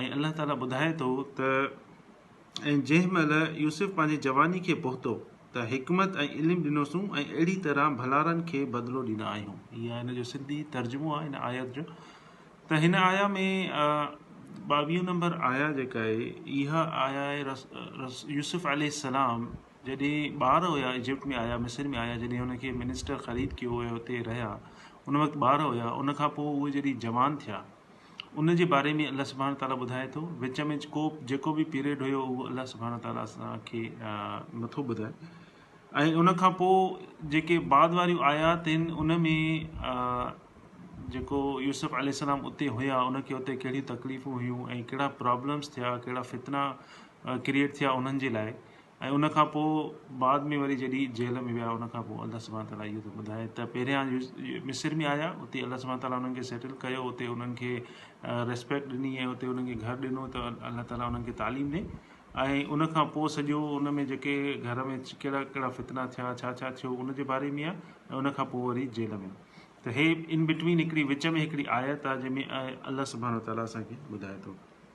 ۽ الله تعاليٰ ٻڌائي ٿو ته، ۽ جنهن مهل يوسف پنهنجي جواني کي پهتو ته حڪمت ۽ علم ڏنوسون ۽ اهڙي طرح ڀلارن کي بدلو ڏيندا آهيون. هي آهي هن جو سنڌي ترجمو آهي هن آيت جو ته هن آيا ۾ ٻاويهه نمبر آيا جيڪا آهي اها آيا آهي يوسف عليه السلام جڏهن ٻار هيا ايجپٽ ۾ آيا مصر ۾ آيا جڏهن هن کي منسٽر خريد ڪيو ۽ هتي رهيا ان وقت ٻار هيا ان کان پوء اهي جڏهن جوان ٿيا ان جي باري ۾ الله سبحانه تعاليٰ ٻڌائي ٿو وچ ۾ ڪو جيڪو به پيريڊ هيو اهو الله سبحانه تعاليٰ اسان کي نٿو ٻڌائي ۽ ان کان پوء جيڪي بعد واريون آيات آهن ان ۾ جيڪو يوسف عليه السلام اتي هيا ان کي اتي ڪهڙيون تڪليفون هيون ۽ ڪهڙا پرابلمس ٿيا ڪهڙا فتنا ڪرييٽ ٿيا انهن جي لاء ۽ ان کان پوء بعد ۾ وري جڏھن جيل ۾ ويا ان کان پوء الله سبحانه تعاليٰ اھو ٿو ٻڌائي ته پھريان مصر ۾ آيا اتي الله سبحانه تعاليٰ انھن کي سيٽل ڪيو اتي انھن کي ريسپيڪٽ ڏني ۽ اتي انھن کي گھر ڏنو ته الله تعاليٰ انھن کي تعليم ڏي ۽ ان کان پوء سڄو ان ۾ جيڪي گھر ۾ ڪھڙا ڪھڙا فتنا ٿيا ڇا ڇا ٿيو ان جي باري ۾ آھي ۽ ان کان پوء وري جيل ۾ ته ھي ان بٽوين ھڪڙي وچ ۾ ھڪڙي آيت آھي جنھن ۾ الله سبحانه تعاليٰ اسان کي ٻڌائي ٿو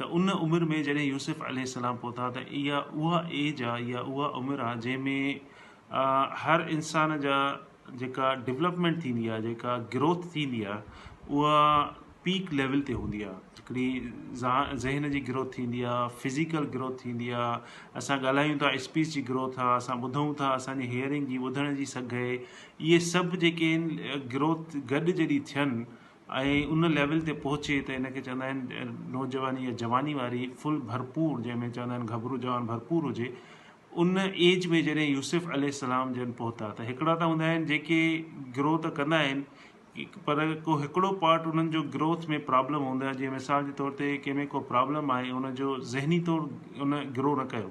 ته ان عمر ۾ جڏهن يوسف عليه السلام پهتا ته اها اها ايج آ يا اها عمر آ جنهن ۾ هر انسان جا جيڪا ڊولپمينٽ ٿيندي آ جيڪا گروٿ ٿيندي آ اها پيڪ ليول تي هوندي آ هڪڙي ذهن جي گروٿ ٿيندي آ فزيڪل گروٿ ٿيندي آ اسان ڳالهايون ٿا اسپيچ جي گروٿ آ اسان ٻڌون ٿا اسان جي هيئرنگ جي ٻڌڻ جي سگهه اهي سڀ جيڪي آهن گروٿ گڏ جڏهن ٿين ۽ ان ليول تي پهچي ته ان کي چوندا آهن نوجواني يا جواني واري فل ڀرپور جنهن ۾ چوندا آهن گهبرو جوان ڀرپور هجي ان ايج ۾ جڏهن يوسف عليه السلام جن پهتا ته هڪڙا ته هوندا آهن جيڪي گرو ته ڪندا آهن پر ڪو هڪڙو پارٽ انهن جو گروٿ ۾ پرابلم هوندو آهي جيئن مثال جي طور تي ڪنهن ۾ ڪو پرابلم آهي ان جو ذهني طور ان گرو نه ڪيو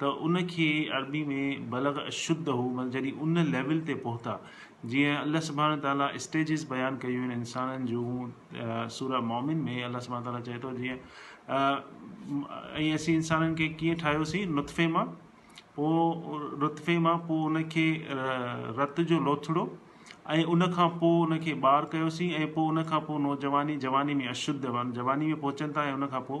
ته ان کي عربي ۾ بلغ اشده معنيٰ جڏهن ان ليول تي پهتا جيئن الله سبحانه وتعاليٰ اسٽيجز بيان ڪيون آهن انسانن جون سوره مؤمن ۾ الله سبحانه وتعاليٰ چئي ٿو جيئن ۽ اسين انسانن کي ڪيئن ٺاهيوسين نطفي مان پوء نطفي مان پوء ان کي رت جو لوٿڙو ۽ ان کان پوء ان کي ٻار ڪيوسين ۽ پوء ان کان پوء نوجواني جواني ۾ اشده جواني ۾ پهچن ٿا ۽ ان کان پوء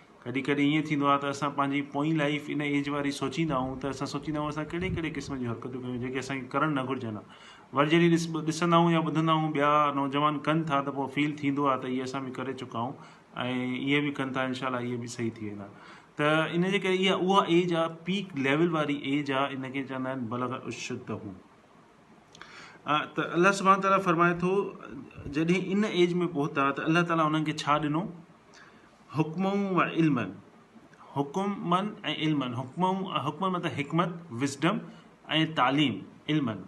ڪڏهن ڪڏهن ائين ٿيندو آهي ته اسان پنهنجي پوئين لائيف ان ايج واري سوچيندا آهيون ته اسان سوچيندا آهيون اسان ڪهڙي ڪهڙي قسم جون حرڪتون ڪيون جيڪي اسان کي ڪرڻ نه گهرجن ها وري جڏهن ڏس ڏسندا آهيون يا ٻڌندا آهيون ٻيا نوجوان ڪن ٿا ته پوء فيل ٿيندو آهي ته هي اسان به ڪري چڪا آهيون ۽ اهي به ڪن ٿا انشاء الله اهي به صحيح ٿي ويندا ته ان جي ڪري اها اها ايج آهي پيڪ ليول واري ايج آهي ان کي چوندا آهن بلغ اشد هو ته الله سبحان تعالیٰ فرمائي ٿو جڏهن ان ايج ۾ پهتا ته الله تعالیٰ انهن کي ڇا ڏنو حڪمون و علمن، حڪمن ۽ علمن، حڪمون، حڪمن مطلب حڪمت، Wisdom، ۽ تعليم، علمن،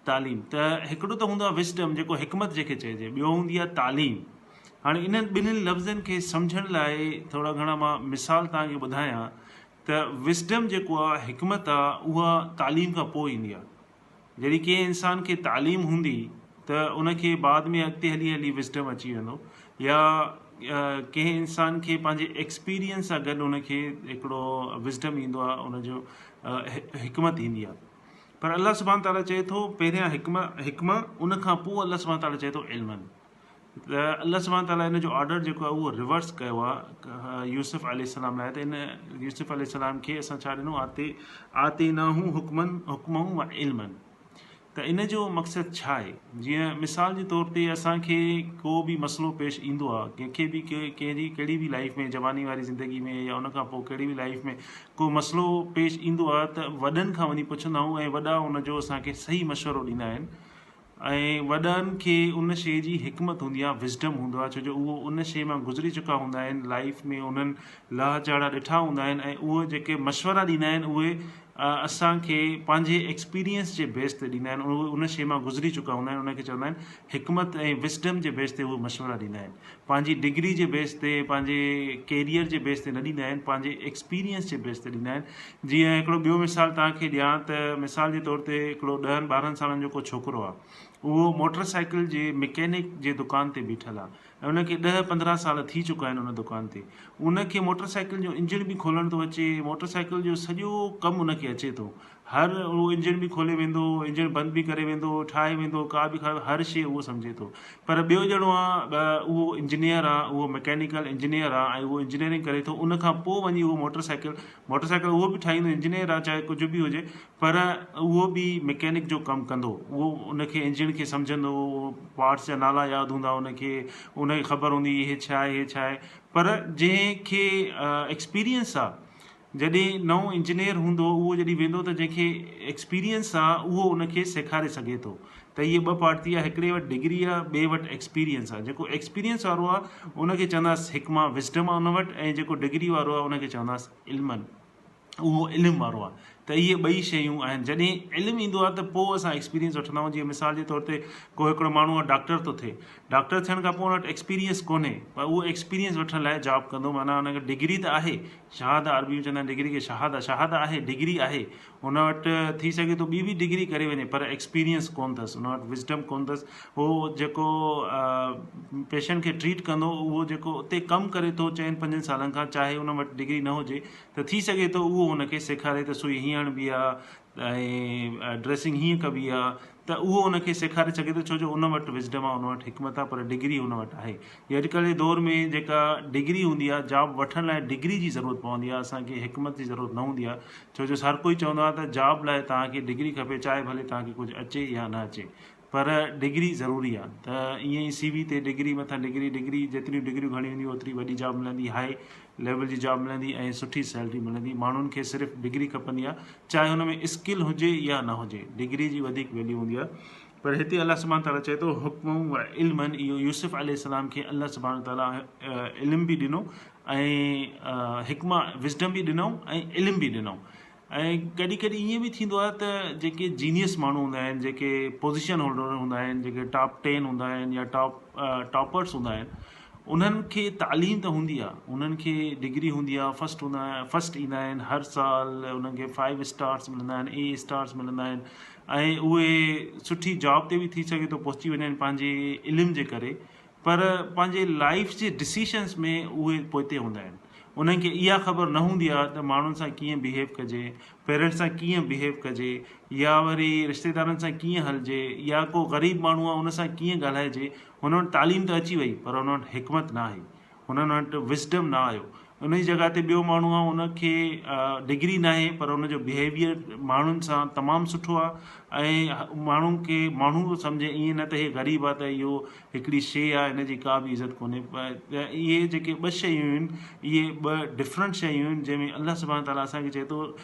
تعليم، ته هڪڙو ته هوندو آهي Wisdom جيڪو حڪمت جنهن کي چئجي، ٻيو هوندي آهي تعليم، هاڻي انهن ٻنهين لفظن کي سمجهڻ لاء ٿورا گهڻا مان مثال توهان کي ٻڌايان ته Wisdom جيڪو آهي، حڪمت آهي، اها تعليم کان پوء ايندي آهي. جڏهن ڪنهن انسان کي تعليم هوندي ته ان کي بعد ۾ اڳتي هلي هلي وزڊم اچي ويندو يا ڪنهن انسان کي پنهنجي ايڪسپيريئنس سان گڏ ان کي هڪڙو وزڊم ايندو آهي ان جو حڪمت ايندي آهي پر الله سبحان تعالٰي چئي ٿو پهريان حڪمه حڪمه ان کان پوء الله سبحان تعالٰي چئي ٿو علمن ته الله سبحانه تعاليٰ ان جو آرڊر جيڪو آهي اهو ريورس ڪيو آهي يوسف عليه السلام لاء ته ان يوسف عليه السلام کي اسان ڇا ڏنو آتي آتي نه هو حڪمن حڪمون و علمن ته ان جو مقصد ڇا آهي جيئن مثال جي طور تي اسانکي ڪو به مسئلو پيش ايندو آهي ڪنهنکي به ڪنهن جي ڪهڙي به لائف ۾ جواني واري زندگي ۾ يا ان کان پوء ڪهڙي به لائف ۾ ڪو مسئلو پيش ايندو آهي ته وڏن کان وڃي پڇندا آهيون ۽ وڏا ان جو اسانکي صحيح مشورو ڏيندا آهن ۽ وڏن کي ان شيء جي حڪمت هوندي آهي Wisdom هوندو آهي ڇو جو اهو ان شيء مان گذري چڪا هوندا آهن لائيف ۾ انهن لهه چهڙا ڏٺا هوندا آهن ۽ اهي جيڪي مشورا ڏيندا آهن اهي اسان کي پنهنجي ايڪسپيرينس جي بيس تي ڏيندا آهن اهي ان شيء مان گذري چڪا هوندا آهن ان کي چوندا آهن حڪمت ۽ Wisdom جي بيس تي اهي مشورا ڏيندا آهن پنهنجي ڊگري جي بيس تي پنهنجي ڪيريئر جي بيس تي نه ڏيندا آهن پنهنجي ايڪسپيريئنس جي بيس تي ڏيندا آهن جيئن هڪڙو ٻيو مثال توهان کي ڏيان ته مثال جي طور تي هڪڙو ڏهن ٻارهن سالن جو ڪو ڇوڪرو آهي اهو موٽر سائيڪل جي مڪينڪ جي دڪان تي بيٺل آهي ۽ ان کي ڏهه پندرهن سال ٿي چڪا آهن ان دڪان تي ان کي موٽر سائيڪل جو انجڻ به کولڻ ٿو اچي موٽر سائيڪل جو سڄو ڪم ان کي اچي ٿو هر اهو انجڻ به کولي ويندو هو انجڻ بند به ڪري ويندو هو ٺاهي ويندو هو ڪا به کائي هر شي اهو سمجهي ٿو پر ٻيو ڄڻو آ اهو انجنيئر آ اهو مڪينيڪل انجنيئر آ ۽ اهو انجنيئرنگ ڪري ٿو ان کان پوء وڃي اهو موٽر سائيڪل موٽر سائيڪل اهو به ٺاهيندو انجنيئر آ چاهي ڪجهه به هجي پر اهو به مڪينڪ جو ڪم ڪندو اهو ان کي انجڻ کي سمجهندو هو اهو پارٽس جا نالا ياد هوندا ان کي ان کي خبر هوندي هي ڇا آهي هي ڇا آهي پر جنهن کي ايڪسپيريئنس آ جڏهن نئون انجنيئر هوندو اهو جڏهن ويندو ته جنهن کي ايڪسپيريئنس آ اهو ان کي سيکاري سگهي ٿو ته هيء ٻه پارٽ ٿي آ هڪڙي وٽ ڊگري آ ٻئي وٽ ايڪسپيريئنس آ جيڪو ايڪسپيريئنس وارو آ ان کي چونداس حڪمه Wisdom آ ان وٽ ۽ جيڪو ڊگري وارو آ ان کي چونداس علمن اهو علم وارو آ ته اهي ٻئي شيون آهن جڏهن علم ايندو آ ته پوء اسان ايڪسپيريئنس وٺندا آهيون جيئن مثال جي طور تي ڪو هڪڙو ماڻهو آ ڊاڪٽر ٿو ٿئي ڊاڪٽر ٿيڻ کان پوء ان وٽ ايڪسپيريئنس ڪونهي پر اهو ايڪسپيريئنس وٺڻ لاء جاب ڪندو معنيٰ ان کي ڊگري ته آهي شهاده عربي ۾ چوندا آهن ڊگري کي شهاده شهاده آهي ڊگري آهي هن وٽ ٿي سگهي ٿو ٻي به ڊگري ڪري وڃي پر ايڪسپيرينس ڪون اٿس هن وٽ وزڊم ڪون اٿس هو جيڪو پيشنٽ کي ٽريٽ ڪندو اهو جيڪو اتي ڪم ڪري ٿو چئن پنجن سالن کان چاهي هن وٽ ڊگري نه هجي ته ٿي سگهي ٿو اهو هن کي سيکاري ته سوئي هيئن هڻبي آهي ۽ ڊريسنگ هيئن ڪبي آهي ته اهو ان کي سيکاري سگهي ٿو ڇو جو ان وٽ وزڊم آهي ان وٽ حڪمت آهي پر ڊگري هن وٽ آهي جي اڄ ڪلهه جي دور ۾ جيڪا ڊگري هوندي آهي جاب وٺڻ لاء ڊگري جي ضرورت پوندي آهي اسان کي حڪمت جي ضرورت نه هوندي آهي ڇو جو هر ڪوئي چوندو آهي ته جاب لاء توهان کي ڊگري کپي چاهي ڀلي توهان کي ڪجهه اچي يا نه اچي پر ڊگري ضروري آهي ته ائين ئي سي وي تي ڊگري مٿان ڊگري ڊگري جيتريون ڊگريون گهڻيون هونديون اوتري وڏي جاب ملندي هاء ليول جي جاب ملندي ۽ سٺي سيلري ملندي ماڻهن کي صرف ڊگري کپندي آ چاهي هن ۾ اسڪل هجي يا نه هجي ڊگري جي وڌيڪ ويليو هوندي آ پر هتي الله سبحانه تعالي چئي ٿو حڪم و علم اهو يوسف عليه السلام کي الله سبحانه تعالي علم به ڏنو ۽ حڪمه وزڊم به ڏنو ۽ علم به ڏنو ۽ ڪڏهن ڪڏهن ائين به ٿيندو آهي ته جيڪي جينيئس ماڻهو هوندا آهن جيڪي پوزيشن هولڊر هوندا آهن جيڪي ٽاپ ٽين هوندا آهن يا ٽاپ ٽاپرس هوندا آهن انهن کي تعليم ته هوندي آهي انهن کي ڊگري هوندي آهي فسٽ هوندا آهن فسٽ ايندا آهن هر سال انهن کي فائيو اسٽارس ملندا آهن اي اسٽارس ملندا آهن ۽ اهي سٺي جاب تي به ٿي سگهي ٿو پهچي وڃن پنهنجي علم جي ڪري پر پنهنجي لائيف جي ڊسيشنس ۾ اهي پوئتي هوندا آهن انهن کي اها خبر نه هوندي آهي ته ماڻهن سان ڪيئن بهيو ڪجي پيرنٽس سان ڪيئن بهيو ڪجي يا وري رشتيدارن سان ڪيئن هلجي يا ڪو غريب ماڻهو آهي ان سان ڪيئن ڳالهائجي هن وٽ تعليم ته اچي وئي پر هن وٽ حڪمت ناهي هنن وٽ وسڊم نه آيو ان جي جڳهه تي ٻيو ماڻهو آ ان کي ڊگري ناهي پر ان جو بهيويئر ماڻهن سان تمام سٺو آ ۽ ماڻهو کي ماڻهو سمجهي ائين نه ته هي غريب آ ته اهو هڪڙي شي آ ان جي ڪا به عزت ڪونهي اهي جيڪي ٻه شيون آهن اهي ٻه ڊفرنٽ شيون آهن جنهن ۾ الله سبحان تعاليٰ اسان کي چئي ٿو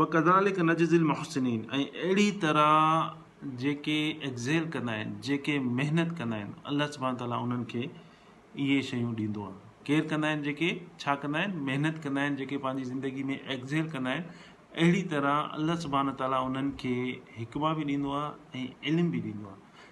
وڪذالڪ نجزي المحسنين ۽ اهڙي طرح جيڪي ايڪزيل ڪندا آهن جيڪي محنت ڪندا آهن الله سبحانه تعالي انهن کي اهي شيون ڏيندو آهي ڪير ڪندا آهن جيڪي ڇا ڪندا آهن محنت ڪندا آهن جيڪي پنهنجي زندگي ۾ ايڪزيل ڪندا آهن اهڙي طرح الله سبحانه تعالي انهن کي حڪما به ڏيندو آهي ۽ علم به ڏيندو آهي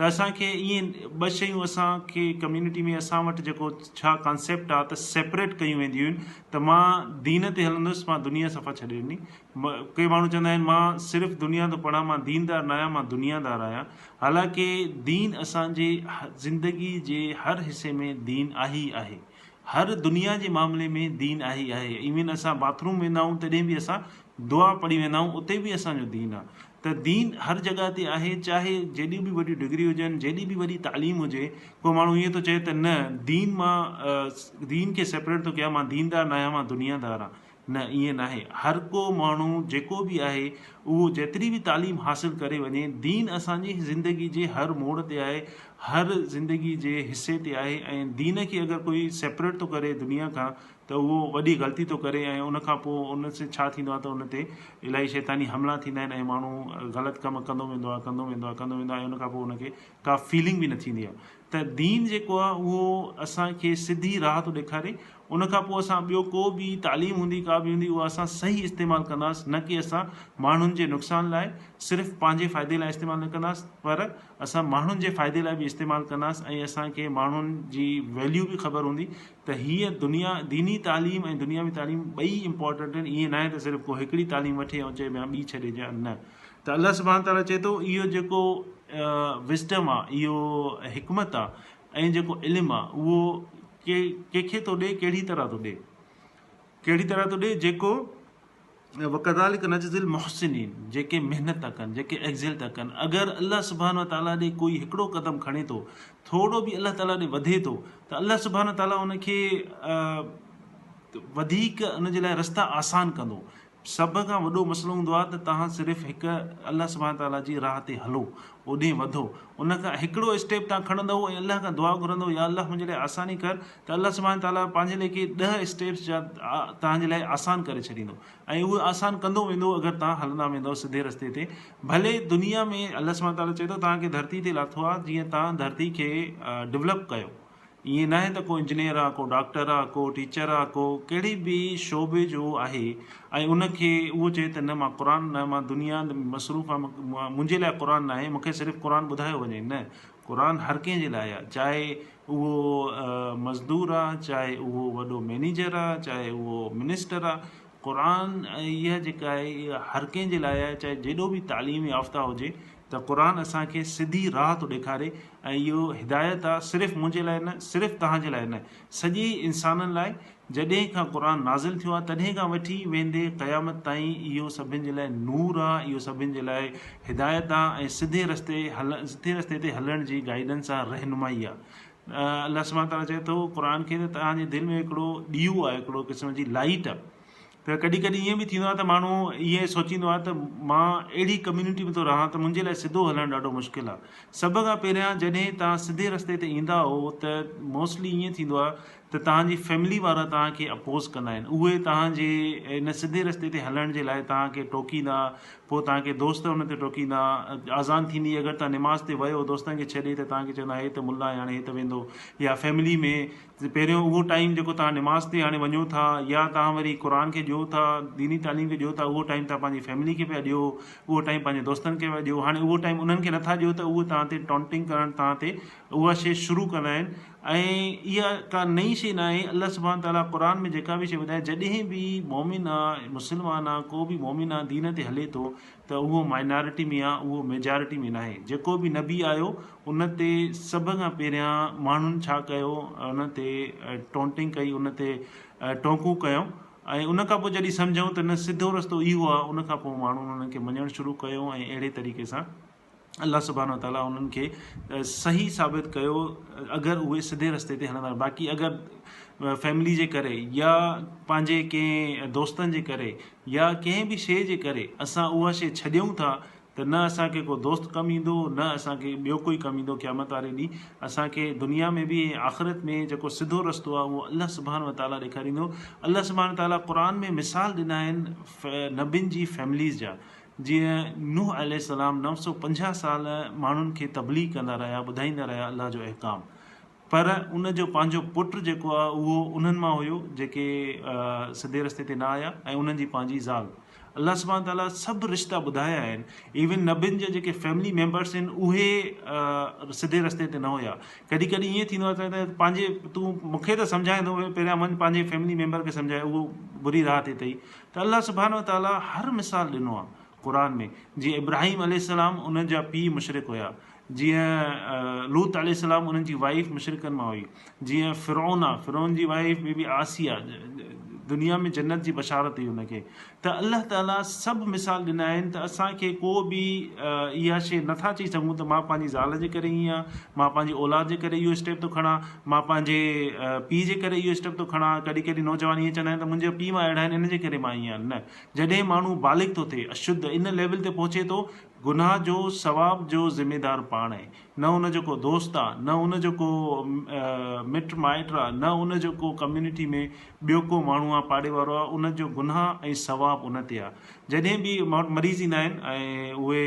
ته اسان کي ائين ٻه شيون اسان کي ڪميونٽي ۾ اسان وٽ جيڪو ڇا ڪانسيپٽ آ ته سيپريٽ ڪيون وينديون هيون ته مان دين تي هلندس مان دنيا صفا ڇڏي ڏني ڪي ماڻهو چوندا آهن مان صرف دنيا ٿو پڙهان مان دين دار ناهيان مان دنيا دار آهيان حالانڪه دين اسان جي زندگي جي هر حصي ۾ دين آهي ئي آهي هر دنيا جي معاملي ۾ دين آهي ئي آهي ايون اسان باٿ روم ويندا آهيون تڏهن به اسان دعا پڙهي ويندا آهيون اتي به اسان جو دين آ ته دين هر جڳهه تي آهي چاهي جيڏيون به وڏيون ڊگريون هجن جيڏي به وڏي تعليم هجي ڪو ماڻهو ائين ٿو چئي ته نه دين مان دين کي سيپريٽ ٿو ڪيان مان ديندار ناهيان مان دنيا دار آهيان نه ائين ناهي هر ڪو ماڻهو جيڪو به آهي اهو جيتري به تعليم حاصل ڪري وڃي دين اسانجي زندگي جي هر موڙ تي آهي هر زندگي جي حصي تي آهي ۽ دين کي اگر ڪوئي سيپريٽ ٿو ڪري دنيا کان ته اهو وڏي غلطي ٿو ڪري ۽ ان کان پوء ان سين ڇا ٿيندو آهي ته ان تي الائي شيطاني حملا ٿيندا آهن ۽ ماڻهو غلط ڪم ڪندو ويندو آهي ڪندو ويندو آهي ڪندو ويندو آهي ۽ ان کان پوء ان کي ڪا فيلنگ به نه ٿيندي آهي ته دين جيڪو آهي اهو اسان کي سڌي راهه ٿو ڏيکاري ان کان پوء اسان ٻيو ڪو به تعليم هوندي ڪا به هوندي اها اسان صحيح استعمال ڪنداس نه ڪي اسان ماڻهن جي نقصان لاء صرف پنهنجي فائدي لاء استعمال نه ڪنداس پر اسان ماڻهن جي فائدي لاء به استعمال ڪنداس ۽ اسان کي ماڻهن جي ويليو به خبر هوندي ته هيء دنيا ديني تعليم ۽ دنياوي تعليم ٻئي امپورٽنٽ آهن ائين ناهي ته صرف ڪو هڪڙي تعليم وٺي ۽ چئي بيان ٻي ڇڏي جا نه ته الله سبحان تعالٰي چئي ٿو اهو جيڪو وزڊم آ اهو حڪمت آ ۽ جيڪو علم آ اهو ڪي ڪنهن کي ٿو ڏي ڪهڙي طرح ٿو ڏي ڪهڙي طرح ٿو ڏي جيڪو وڪذالڪ نجزي المحسنين جيڪي محنت ٿا ڪن جيڪي ايگزيل ٿا ڪن اگر الله سبحانه وتعالي ڏي ڪوئي هڪڙو قدم کڻي ٿو ٿورڙو به الله تعالي ڏي وڌي ٿو ته الله سبحانه وتعالي ان کي وڌيڪ ان جي لاء رستا آسان ڪندو سڀ کان وڏو مسئلو هوندو آهي ته توهان صرف هڪ الله سبحانه وتعالي جي راهه تي هلو اوڏي وڌو ان کان هڪڙو اسٽيپ توهان کڻندو ۽ الله کان دعا گهرندو يا الله منهنجي لاء آساني ڪر ته الله سبحانه تعاليٰ پنهنجي ليکي ڏهه اسٽيپس جا توهان جي لاء آسان ڪري ڇڏيندو ۽ اهي آسان ڪندو ويندو اگر توهان هلندا ويندؤ سڌي رستي تي ڀلي دنيا ۾ الله سبحانه تعاليٰ چئي ٿو توهان کي ڌرتي تي لاٿو آهي جيئن توهان ڌرتي کي ڊولپ ڪيو ائين ناهي ته ڪو انجنيئر آهي ڪو ڊاڪٽر آهي ڪو ٽيچر آهي ڪو ڪهڙي به شعبي جو آهي ۽ ان کي اهو چئي ته نه مان قرآن نه مان دنيا مصروف آهي منهنجي لاء قرآن ناهي مونکي صرف قرآن ٻڌايو وڃي نه قرآن هر ڪنهن جي لاء آ چاهي اهو مزدور آ چاهي اهو وڏو مينيجر آ چاهي اهو منسٽر آ قرآن اها جيڪا آهي اها هر ڪنهن جي لاء آهي چاهي جيڏو به تعليم يافته هجي ته قرآن اسان کي سڌي راهه ٿو ڏيکاري ۽ اهو هدايت آ صرف منهنجي لاء نه صرف توهان جي لاء نه سڄي انسانن لاء جڏهن کان قرآن نازل ٿيو آهي تڏهن کان وٺي ويندي قيامت تائين اهو سڀن جي لاء نور آهي اهو سڀن جي لاء هدايت آهي ۽ سڌي رستي سڌي رستي تي هلڻ جي گائيڊنس آهي رهنمائي آهي الله سبحانه تعالٰي چئي ٿو قرآن کي ته توهان جي دل ۾ هڪڙو ڏيئو آهي هڪڙو قسم جي لائٽ آهي ته ڪڏهن ڪڏهن ائين به ٿيندو آهي ته ماڻهو ائين سوچيندو آهي ته مان اهڙي ڪميونٽي ۾ ٿو رهان ته منهنجي لاء سڌو هلڻ ڏاڍو مشڪل آهي. سڀ کان پهريان جڏهن توهان سڌي رستي تي ايندا آهو ته موسٽلي ائين ٿيندو آهي ته توهان جي فيملي وارا توهان کي اپوز ڪندا آهن اهي توهان جي ان سڌي رستي تي هلڻ جي لاء توهان کي ٽوڪيندا پوء توهان کي دوست ان تي ٽوڪيندا آذان ٿيندي اگر توهان نماز تي ويو دوستن کي ڇڏي ته توهان کي چوندا هي ته ملا آهي هاڻي هي ته ويندو يا فيملي ۾ ته پهريون اهو ٽائيم جيڪو توهان نماز تي هاڻي وڃو ٿا يا توهان وري قرآن کي ڏيو ٿا ديني تعليم کي ڏيو ٿا اهو ٽائيم توهان پنهنجي فيملي کي پيا ڏيو اهو ٽائيم پنهنجي دوستن کي پيا ڏيو هاڻي اهو ٽائيم انهن کي نٿا ڏيو ته اهو توهان تي ٽانٽنگ ڪرڻ توهان تي اها شي شروع ڪندا آهن ۽ اها ڪا نئي شي نه آهي الله سبحان تعالٰي قرآن ۾ جيڪا بي شي ٻڌائي جڏهن به مؤمن آ مسلمان آ ڪو به مؤمن آ دين تي هلي ٿو ته اهو مائنارٽي ۾ آ اهو ميجارٽي ۾ ناهي جيڪو به نبي آيو ان تي سڀ کان پهريان ماڻهن ڇا ڪيو ان تي ٽونٽنگ ڪئي ان تي ٽونڪون ڪيون ۽ ان کان پوء جڏهن سمجهيون ته نه سڌو رستو اهو آ ان کان پوء ماڻهن انهن کي مڃڻ شروع ڪيو ۽ اهڙي طريقي سان الله سبحانه وتعاليٰ انهن کي صحيح ثابت ڪيو اگر اهي سڌي رستي تي هلندا باقي اگر فيملي جي ڪري يا پنهنجي ڪنهن دوستن جي ڪري يا ڪنهن به شيء جي ڪري اسان اها شيء ڇڏيون ٿا ته نه اسانکي ڪو دوست ڪم ايندو نه اسانکي ٻيو ڪوئي ڪم ايندو قيامت واري ڏينهن اسانکي دنيا ۾ به ۽ آخرت ۾ جيڪو سڌو رستو آهي اهو الله سبحانه وتعاليٰ ڏيکاريندو الله سبحانه وتعاليٰ قرآن ۾ مثال ڏنا آهن نبين جي فيمليز جا جيئن نوح عليه السلام نو سؤ پنجاهه سال ماڻهن کي تبليغ ڪندا رهيا ٻڌائيندا رهيا الله جو احڪام پر ان جو پنهنجو پٽ جيڪو آ اهو انهن مان هيو جيڪي سڌي رستي تي نه آيا ۽ انهن جي پنهنجي زال الله سبحانه تعالي سڀ رشتا ٻڌايا آهن ايون نبين جا جيڪي فيملي ميمبرس آهن اهي سڌي رستي تي نه هيا ڪڏهن ڪڏهن ائين ٿيندو آهي ته پنهنجي تون مونکي ته سمجهائيندو پهريان وڃ پنهنجي فيملي ميمبر کي سمجهاء اهو بري راهه تي اٿئي ته الله سبحانه وتعاليٰ هر مثال ڏنو آهي قرآن ۾ جيئن ابراهيم عليه السلام انهن جا پيء مشرڪ هيا جيئن لوط عليه السلام انهن جي وائيف مشرڪن مان هئي جيئن فرعون آهي فرعون جي وائيف بي بي عاصيه دنيا ۾ جنت جي بشارت هئي ان کي ته الله تعاليٰ سڀ مثال ڏنا آهن ته اسان کي ڪو به اها شيء نٿا چئي سگهون ته مان پنهنجي زال جي ڪري ائين آهيان مان پنهنجي اولاد جي ڪري اهو اسٽيپ ٿو کڻان مان پنهنجي پيء جي ڪري اهو اسٽيپ ٿو کڻان. ڪڏهن ڪڏهن نوجوان ائين چوندا آهن ته منهنجا پيء ماء اهڙا آهن ان جي ڪري مان ائين آهيان. نه جڏهن ماڻهو بالغ ٿو ٿئي اشد ان ليول تي پهچي ٿو گناهه جو ثواب جو ذميدار پاڻ آهي نه ان جو ڪو دوست آ نه ان جو ڪو مٽ مائٽ آ نه ان جو ڪو ڪميونٽي ۾ ٻيو ڪو ماڻهو آ پاڙي وارو آ ان جو گناهه ۽ ثواب ان تي آ جڏهن به ماڻهو مري ٿيندا آهن ۽ اهي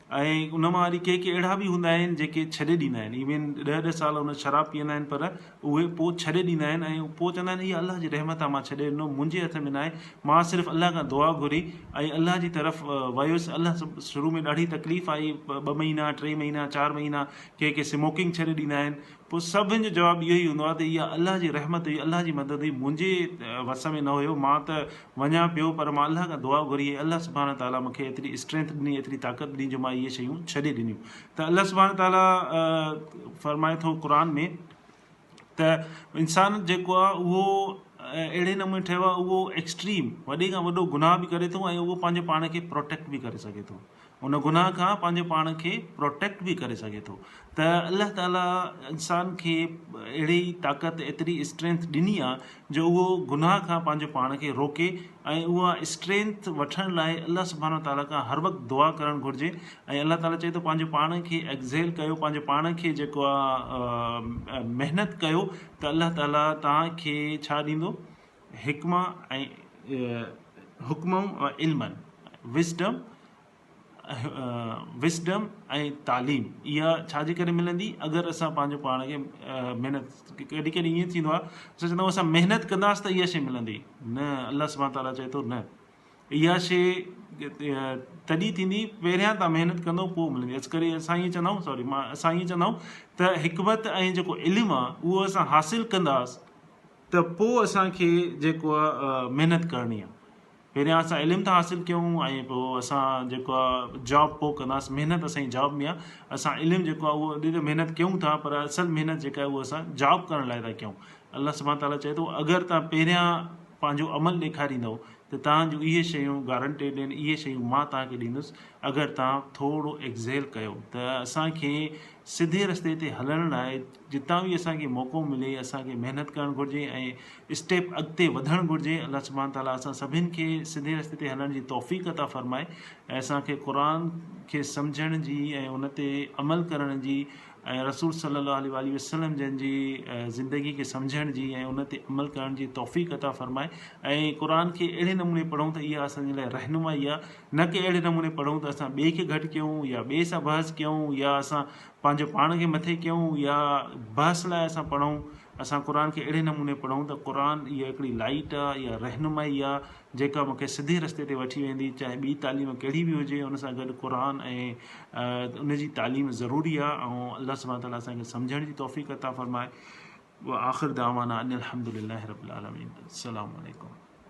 ۽ ان مان وري ڪي ڪي اهڙا به هوندا آهن جيڪي ڇڏي ڏيندا آهن ايون ڏهه ڏهه سال ان شراب پيئندا آهن پر اهي پوء ڇڏي ڏيندا آهن ۽ پوء چوندا آهن اها الله جي رحمت آهي مان ڇڏي ڏنو منهنجي هٿ ۾ ناهي مان صرف الله کان دعا گهري ۽ الله جي طرف ويس الله شروع ۾ ڏاڍي تڪليف آئي ٻه مهينا ٽي مهينا چار مهينا ڪي ڪي سموڪنگ ڇڏي ڏيندا آهن پوء سڀن جو جواب اهو ئي هوندو آهي ته اها الله جي رحمت هئي، الله جي مدد هئي، منهنجي وس ۾ نه هيو، مان ته وڃان پيو پر مان الله کان دعا گهري ۽ الله سبحانه تعاليٰ مون کي ايتري اسٽرينٿ ڏني، ايتري طاقت ڏني جو مان اهي شيون ڇڏي ڏنيون. ته الله سبحانه تعاليٰ فرمائي ٿو قرآن ۾ ته انسان جيڪو آهي اهو اهڙي نموني ٺهيو آهي اهو ايڪسٽريم وڏي کان وڏو گناهه به ڪري ٿو ۽ اهو پنهنجو پاڻ کي پروٽيڪٽ به ڪري سگهي ٿو. ان گناھ کان پنهنجي پاڻ کي پروٽيڪٽ به ڪري سگهي ٿو ته الله تعاليٰ انسان کي اهڙي طاقت ايتري اسٽرينٿ ڏني آ جو اهو گناھ کان پنهنجو پاڻ کي روڪي ۽ اها اسٽرينٿ وٺڻ لاء الله سبحانه وتعاليٰ کان هر وقت دعا ڪرڻ گهرجي ۽ الله تعاليٰ چئي ٿو پنهنجو پاڻ کي ايگزيل ڪيو پنهنجو پاڻ کي جيڪو آ محنت ڪيو ته الله تعاليٰ توهان کي ڇا ڏيندو حڪمه ۽ حڪمون علمن، Wisdom، Wisdom، ۽ تعليم اها ڇا جي ڪري ملندي اگر اسان پنهنجو پاڻ کي محنت ڪڏهن ڪڏهن ائين ٿيندو آهي اسان چوندا آهيون اسان محنت ڪنداس ته اها شي ملندي نه الله سبحان تعالٰي چئي ٿو نه اها شي تڏهن ٿيندي پهريان تان محنت ڪندو پوء ملندي اس ڪري اسان ائين چوندا آهيون سوري اسان ائين چوندا آهيون ته حڪمت ۽ جيڪو علم آهي اهو اسان حاصل ڪنداس ته پوء اسان کي جيڪو آ محنت ڪرڻي آ پهريان اسان علم ٿا حاصل ڪيون ۽ پوء اسان جيڪو آ جاب پوء ڪنداس محنت اسان جي جاب ۾ آ اسان علم جيڪو آ اهو اڏي ته محنت ڪيون ٿا پر اصل محنت جيڪا آ اهو اسان جاب ڪرڻ لاء ٿا ڪيون الله سبحان تعاليٰ چئي ٿو اگر تان پهريان پنهنجو عمل ڏيکاريندؤ ته تان جون اهي شيون گارنٽيڊ آهن اهي شيون مان تان کي ڏيندس اگر تان ٿورو ايڪزيل ڪيو ته اسان کي سڌي رستي تي هلڻ لاء جتان به اسان کي موقعو ملي اسان کي محنت ڪرڻ گهرجي ۽ اسٽيپ اڳتي وڌڻ گهرجي الله سبحانه تعالٰي اسان سڀن کي سڌي رستي تي هلڻ جي توفيق عطا فرمائي ۽ اسان کي قرآن کي سمجهڻ جي ۽ ان تي عمل ڪرڻ جي ۽ رسول صلي الله عليه واٰله وسلم جن جي زندگي کي سمجهڻ جي ۽ ان تي عمل ڪرڻ جي توفيق عطا فرمائي ۽ قرآن کي اهڙي نموني پڙهون ته اها اسان جي لاء رهنمائي آهي نه ڪي اهڙي نموني پڙهون ته اسان ٻئي کي گهٽ ڪيون يا ٻئي سان بحث ڪيون يا اسان پنهنجو پاڻ کي مٿي ڪيون يا بحث لاء اسان پڙهون اسان قرآن کي اهڙي نموني پڙهون ته قرآن اها هڪڙي لائيٽ آ يا رهنمائي آ جيڪا مونکي سڌي رستي تي وٺي ويندي چاهي ٻي تعليم ڪهڙي به هجي ان سان گڏ قرآن ۽ ان جي تعليم ضروري آ ۽ الله سبحانه تعالي اسان کي سمجهڻ جي توفيق عطا فرمائي وآخر دعوانا ان الحمدلله رب العالمين السلام عليڪم